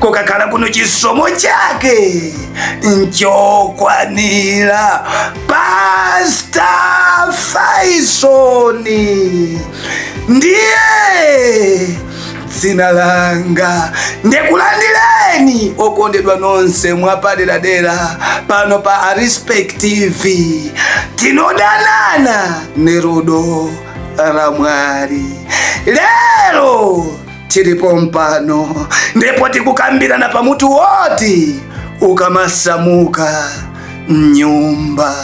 kokakhala kuno chisomo chake nchokwanira pasta faisoni ndiye dzina langa ndikulandireni okondedwa nonse mwapaderadera pano pa arespect tv tinodanana nerudo ramwari lero tili pompano ndipo tikukambirana pa mutu woti ukamasamuka mnyumba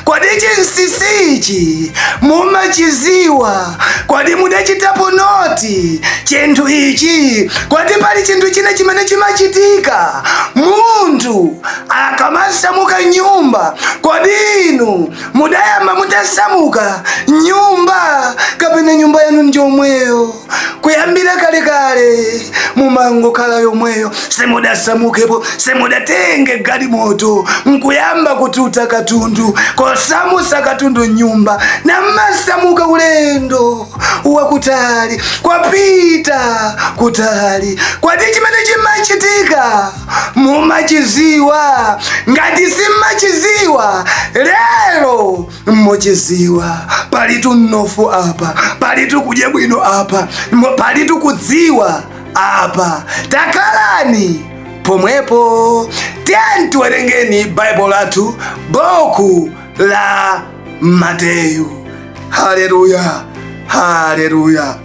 kodi chinsisichi mumachidziwa kodi mudachitapo noti chinthu ichi kodi pali chinthu china chimene chimachitika munthu akamasamuka mnyumba kodi inu mudayamba mutasamuka mnyumba kapena nyumba yanu njomweyo kuyambira kale kale mumangokhala yomweyo simudasamukepo simudatenge galimoto nkuyamba kututa katundu kusamutsa katundu mnyumba namasamuka ulendo wakutali kupita kutali kodi chimene chimachitika mumachidziwa ngati simmachidziwa lero muchidziwa palitu mnofu apa palitu kudya bwino apa palitu kudziwa apa takhalani pomwepo tiyeni tiwerengeni baibulo lathu buku la mateyu haleluya haleluya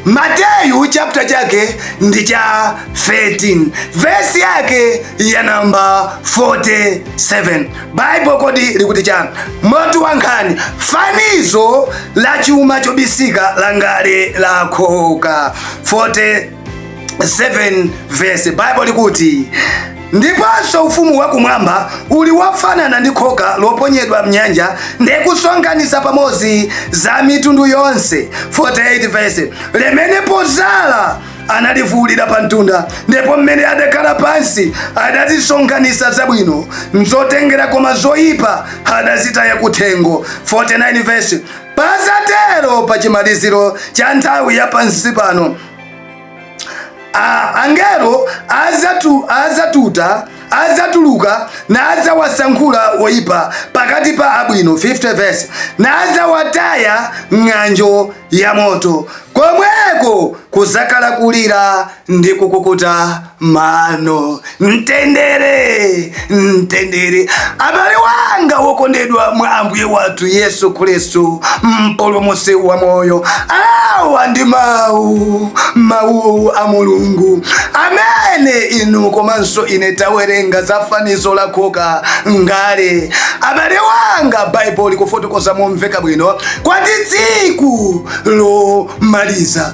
mateyu chapter chake ndi cha 13 vesi yake ya namba 47 baibulo kodi likuti chani mutu wa nkhani fanizo la chuma chobisika la ngale la khoka 47 7 verse bible likuti ndiponso ufumu wakumwamba uli wofanana ndi khoka loponyedwa mnyanja ndi kusonkhanitsa pamodzi za mitundu yonse 48 verse limene podzala analivuulira pa mtunda ndipo mmene adakhala pansi adazisonkhanitsa zabwino mzotengera koma zoyipa adazitaya kuthengo 49 verse Padzatero pa chimaliziro cha nthawi ya pansi pano angelo adzatu adzatuta adzatuluka nadzawasankhula woyipa pakati pa abwino 50 verse nadzawataya mng'anjo ya moto komweko kudzakhala kulira ndi kukukuta mano mtendere mtendere abale wanga wokondedwa mwa ambuye wathu yesu khristu mpulumutsi wa moyo awa ndi mawu a mulungu amene inu komanso ine tawerenga za fanizo la khoka ngale abale wanga baibulo likufotokoza momveka bwino kuti tsiku lomaliza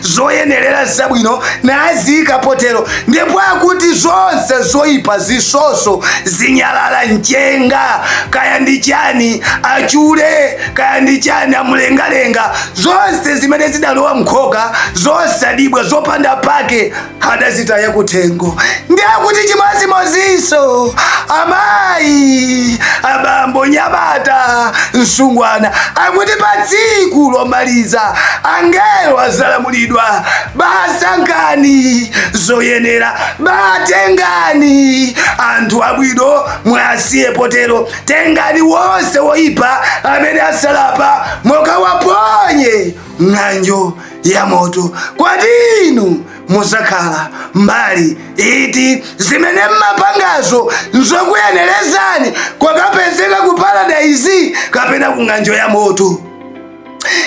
zoyenerera zabwino naziika potero ndipo akuti zonse zoyipa zitsotso zinyalala mchenga kaya ndi chani achule kaya ndi chani amulengalenga zonse zimene zidalowa mkhoka zosadyibwa zopanda pake adazitaya kuthengo ndiye akuti chimodzimodzinso amayi abambo mnyamata msungwana akuti pa tsiku lomaliza angelo adzalamulidwa basankhani zoyenera batengani anthu abwino muwasiye potero tengani wonse woyipa amene asalapa mukawaponye mng'anjo ya moto. Kodi inu muzakhala mbali iti? Zimene mmapangazo nzokuyenerezani kukapezeka ku paradaizi kapena ku ng'anjo ya moto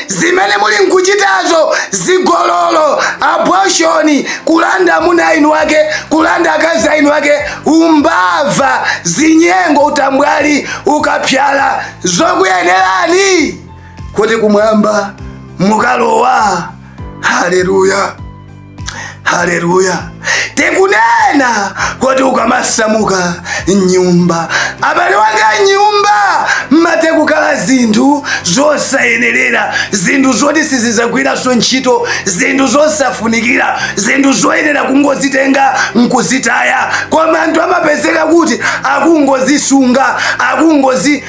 zimene muli nkuchitazo zigololo abortion kulanda amuna a eni ake kulanda akazi a eni ake umbava zinyengo utambwali ukapsala zokuyenerani kuti kumwamba mukalowa haleluya haleluya tikunena kuti ukamasamuka mnyumba abale wanga mnyumba mmatha kukhala zinthu zosayenerera zinthu zoti sizizagwiranso ntchito zinthu zosafunikira zinthu zoyenera kungozitenga nkuzitaya koma anthu amapezeka kuti akungozisunga akungozi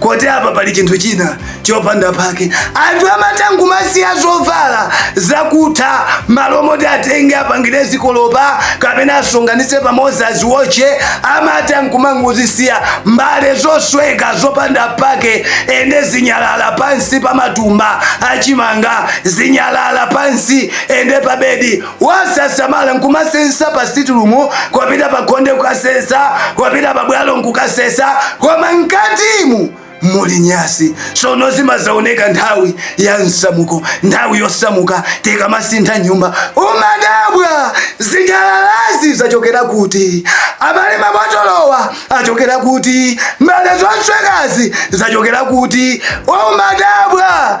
kuti apa pali chinthu china chopanda pake anthu amatha nkumasiya zovala zakutha malo moti atenge apangire zikolopa kapena asonkhanitse pamodzi aziwotche amatha nkumangozisiya mbale zosweka zopanda pake ende zinyalala pansi pa matumba achimanga zinyalala pansi ende pabedi Osasamala nkumasesa pa sitirumu, kupita pa khonde kukasesa, kupita pa bwalo nkukasesa, koma mkatimu muli nyansi. Sono zimazaoneka nthawi ya msamuko, nthawi yosamuka tikamasintha nyumba. Umadabwa zinyalalazi zachokera kuti? Abale mabotolowa achokera kuti? Mbale zoswekazi zachokera kuti? Umadabwa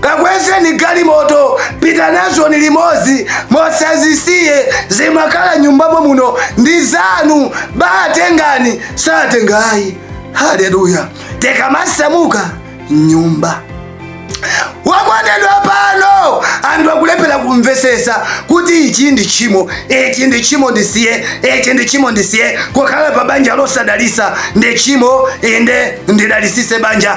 kakwezeni galimoto pita nazoni limodzi musazisiye zimakhala m'nyumba momuno muno ndi zanu batengani satenga ayi haleluya tikamasamuka m'nyumba wakondedwa pano anthu akulephera kumvesesa kuti ichi ndi tchimo ichi ndi tchimo ndisiye ichi ndi tchimo ndisiye kukhala pa banja losadalisa ndi tchimo inde ndidalisise banja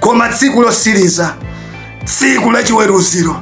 koma tsiku lotsiriza tsiku la chiweruziro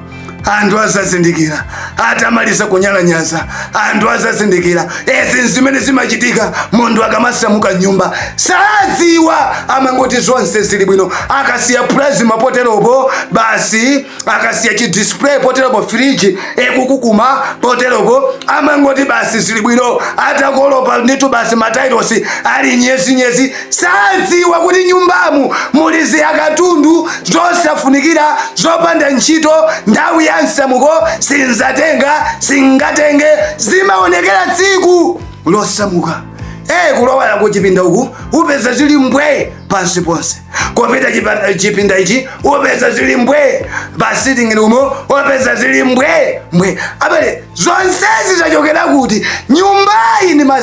anthu azazindikira atamaliza kunyalanyaza anthu azazindikira izi n'zimene zimachitika munthu akamasamuka m'nyumba saziwa amangoti zonse zili bwino akasiya plasma poteropo basi akasiya chi display poteropo fridge ikukukuma poteropo amangoti basi zili bwino atakolopa nditu basi matailosi ali nyezi nyezi Sadziwa kuti m'nyumbamu muli ziakatundu zosafunikira zopanda ntchito nthawi ya msamuko sinzatenga singatenge zimaonekera tsiku losamuka Eh, kulowera ku chipinda uku upeza zili mbwe pansi ponse kupita chipa- chipinda ichi upeza zili mbwe pa sitting room upeza zili mbwe mbwe abale zonsezi zachokera kuti nyumbayi nima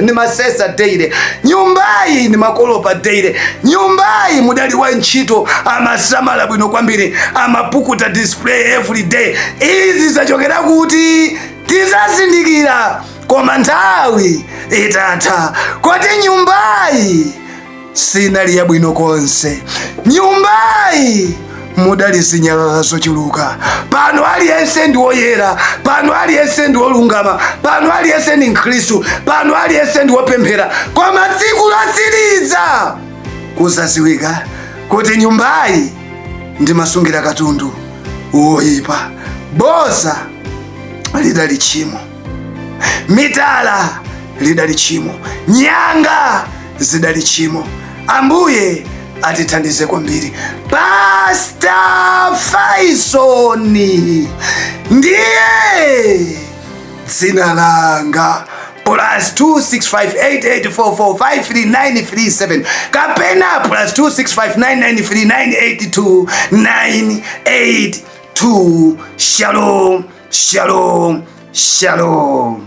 nimasesa daily nyumbayi nimakolopa daily nyumbayi mudali wa ntchito amasamala bwino kwambiri amapukuta display every day izi zachokera kuti tizazindikira koma nthawi itatha kuti nyumbayi sinali yabwino konse. Nyumbayi mudali zinyalala zochuluka. Pano aliyense ndi woyera, pano aliyense ndi wolungama, pano aliyense ndi Mkhristu, pano aliyense ndi wopemphera, koma tsiku lotsiriza kuzaziwika kuti nyumbayi ndimasungira katundu woyipa. Boza lidali tchimo. mitala lidali tchimo nyanga zidali tchimo ambuye atithandize kwambiri pasta Faisoni ndiye dzina langa plus 265884453937 kapena plus 265993982982 shalom shalom shalom